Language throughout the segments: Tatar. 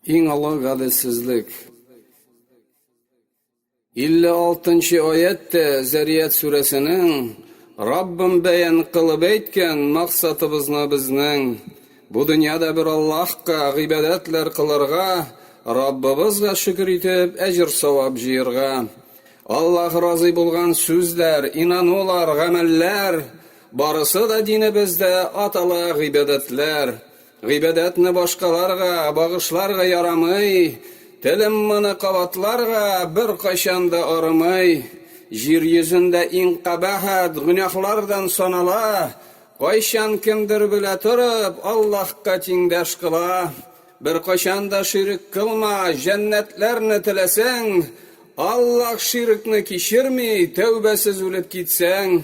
Иң олы гаделсезлек. 56 нчы аять тә Зәрият сүрәсенең Раббым бәян кылып әйткән максатыбызны безнең бу дөньяда бер Аллаһка гыйбадәтләр кылырга, Раббыбызга шөкер итеп, әҗер-савап җыерга. Аллаһ разый булган сүзләр, инанулар, гамәлләр, барысы да динебездә атала гыйбадәтләр. Гыйбадәтне башкаларга багышларга ярамый, телем моны кабатларга беркайчан да арымый. Җир йөзендә иң кабахәт гөнаһлардан санала, кайчан кемдер белә торып Аллаһка тиңдәш кыла. Беркайчан да ширек кылма, җәннәтләрне теләсәң, Аллаһ ширекне кичерми, тәүбәсез үлеп китсәң.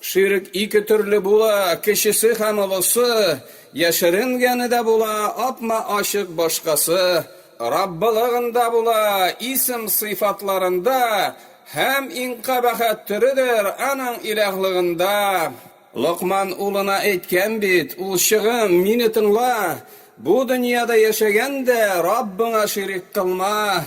Ширк ике төрле була, кечесе һәм олысы, яшеренгәне дә була, апма-ачык башкасы, Раббылыгында була, исем-сыйфатларында, һәм иң кабахәт төредер, Аның Илаһлыгында. Локман улына әйткән бит, Улчыгым, Мине тыңла, бу дөньяда яшәгәндә, Раббыңа ширик кылма.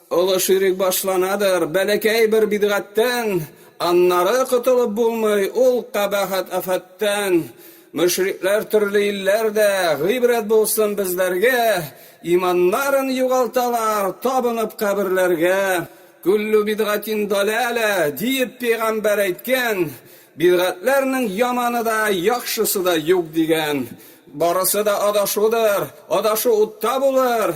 Олы ширек башланадыр бәләкәй бер бидгатьтән, аннары котылып булмый ул кабахәт-афәттән. Мөшрикләр төрле илләрдә, гыйбрәт булсын безләргә, иманнарын югалталар, табынып каберләргә. Күллү бидгатин даләлә, диеп пигамбәр әйткән, бидгатьләрнең яманы да, яхшысы да юк дигән. Барысы да адашудыр, адашу утта булыр,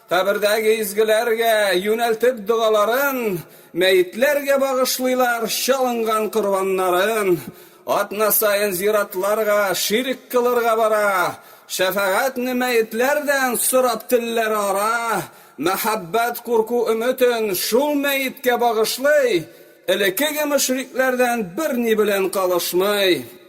Кабердәге изгеләргә юнәлтеп догаларын, мәетләргә багышлыйлар чалынган корбаннарын. Атна саен зиратларга ширек кылырга бара, шәфәгатьне мәетләрдән сорап телләр ара, мәхәббәт, курку өметен шул мәеткә багышлый, элекеге мөшрикләрдән берни белән калышмый.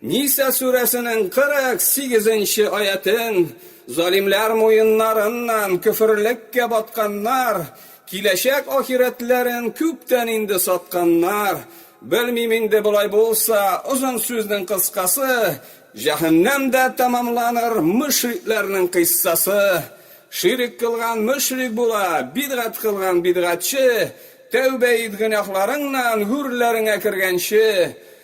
Ниса сүрәсенең 48 нче аятен, Залимләр муеннарыннан көферлеккә батканнар, киләчәк ахирәтләрен күптән инде сатканнар. Белмим инде, болай булса, озын сүзнең кыскасы, җәһәннәмдә тәмамланыр мөшрикләрнең кыйссасы. Ширек кылган мөшрик була, бидгать кылган, бидгатьче, тәүбә ит гөнаһларыңнан, гүрләреңә кергәнче.